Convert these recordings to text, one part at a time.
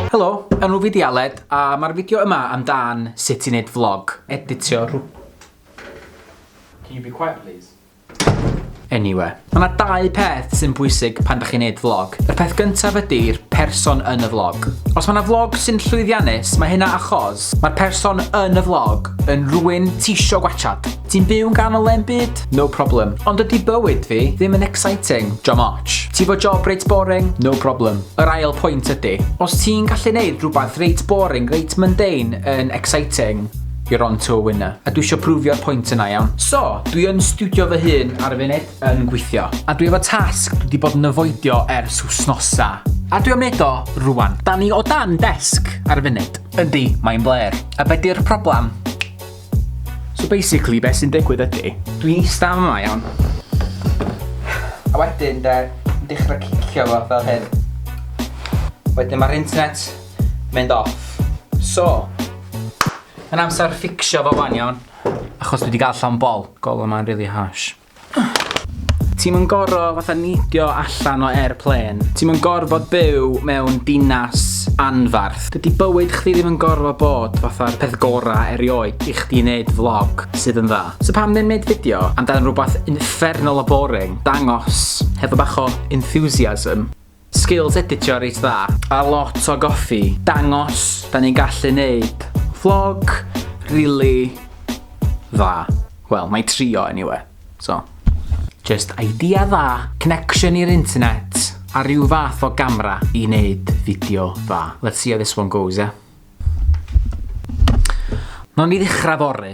Helo, enw fi di Aled a mae'r fideo yma amdan sut i wneud vlog. Editio rhw... Can you be quiet please? Anyway. Mae 'na dau peth sy'n bwysig pan dych chi'n neud vlog. Y peth gyntaf ydy'r person yn y vlog. Os mae 'na vlog sy'n llwyddiannus, mae hynna achos mae'r person yn y vlog yn rhywun tisio gwachad. Ti'n byw yn ganol le'n byd? No problem. Ond ydy bywyd fi ddim yn exciting? Jom ots. Ti fo job reit boring? No problem. Yr ail pwynt ydy, os ti'n gallu neud rhywbeth reit boring, reit mundane yn exciting, You're on to a winner. A dwi isio prwfio'r pwynt yna iawn. So, dwi yn studio fy hun ar y funud yn gweithio. A dwi efo tasg dwi wedi bod yn yfoidio ers wsnosa. A dwi am neud o rwan. Da ni o dan desg ar y funud. Yndi, mae'n bler. A be di'r problem? So basically, be sy'n digwydd ydy, dwi'n eista yma iawn. A wedyn de, yn dechrau cicio fo fel hyn. Wedyn mae'r internet mynd off. So, mae'n amser fficsio fo wan iawn, achos dwi 'di ga'l llon bol. Golwg yma'n rili harsh. Ti'm yn goro fatha neidio allan o airplane. Ti'm yn gorfod byw mewn dinas anfarth. Dydi bywyd chdi ddim yn gorfod bod fatha'r peth gora erioed i chdi neud vlog sydd yn dda. So pam ddim neud fideo amdan rwbath uffernol o boring, dangos hefo bach o enthusiasm. Skills editio reit dda. A lot o goffi. Dangos, da ni'n gallu neud vlog rili dda. Wel, mae trio anyway, so. Just idea dda, connection i'r internet, a rhyw fath o gamra i neud fideo dda. Let's see how this one goes, yeah? Nawn ni ddechrau fory.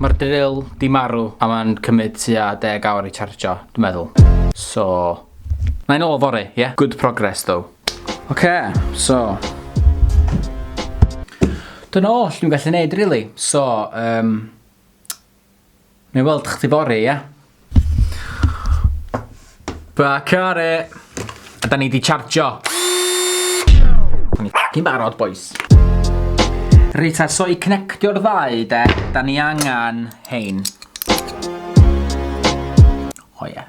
Mae'r drill di marw a mae'n cymryd tua deg awr i chargio, dwi'n meddwl. So, na i'n ôl fory, ie? Yeah? Good progress, though. Oce, so... Dyna all dwi'n gallu neud, really. So, um, Neu weld chdi bore, ia? Ba care! A da ni di chargio. Da ni ffocin barod, boys. Rita, so i connectio'r ddau, de, da ni angen hein. O oh, ia. Yeah.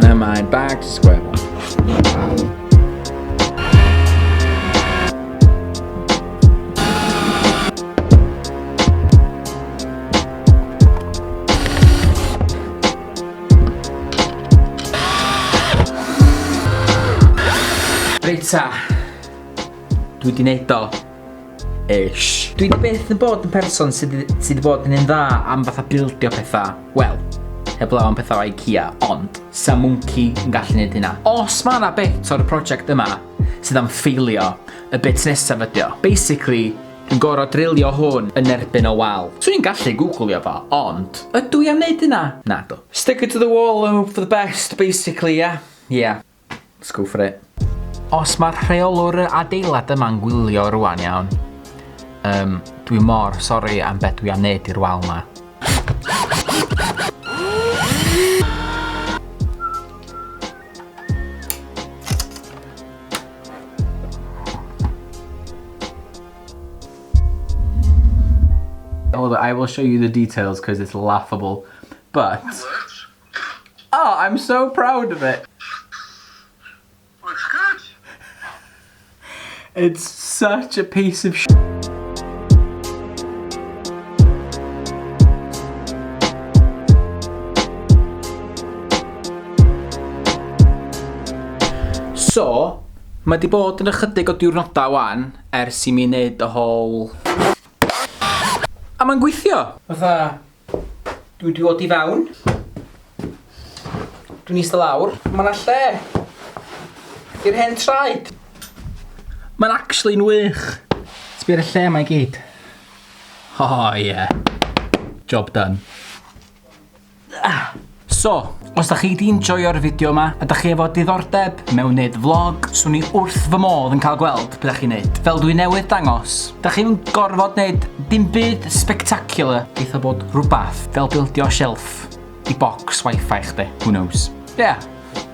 Never mind, back to square one. Reit ta, dwi di neud o. Ish. Dwi di byth yn bod yn person sydd sy di bod yn un dda am fatha bildio pethau. Wel, heblaw am pethau IKEA, ond sa mwnci yn gallu gwneud hynna. Os mae yna bit o'r prosiect yma sydd am ffeilio, y bit nesaf ydi o. Basically, dwi'n gorau drilio hwn yn erbyn o wal. Swn i'n gallu googlio fo, ond ydw i am wneud hynna? Na do. Stick it to the wall and hope for the best, basically, ie? Yeah. Ie. Yeah. Let's go for it. Os mae'r rheolwr y adeilad yma'n gwylio rwan iawn, um, dwi mor sori am beth dwi am wneud i'r wal ma. Hold on, I will show you the details because it's laughable. But... Oh, I'm so proud of it. Looks good. It's such a piece of shit. So, mae di bod yn ychydig o diwrnodau wan ers i mi wneud y whole... A mae'n gweithio! Fatha, Dwi wedi dod i fewn. Dwi'n eistedd lawr. Mae yna lle i'r hen traed. Mae'n actually yn wych. Sbio'r lle mae gyd. Oh yeah. Job done. Ah. So, os da chi di enjoyo'r fideo yma a da chi efo diddordeb mewn neud vlog, swn i wrth fy modd yn cael gweld beth da chi'n neud. Fel dwi newydd dangos, da chi'n gorfod neud dim byd spectacular, eitha bod rhywbeth fel bildio shelf i box wifi chdi, who knows. Ie. Yeah.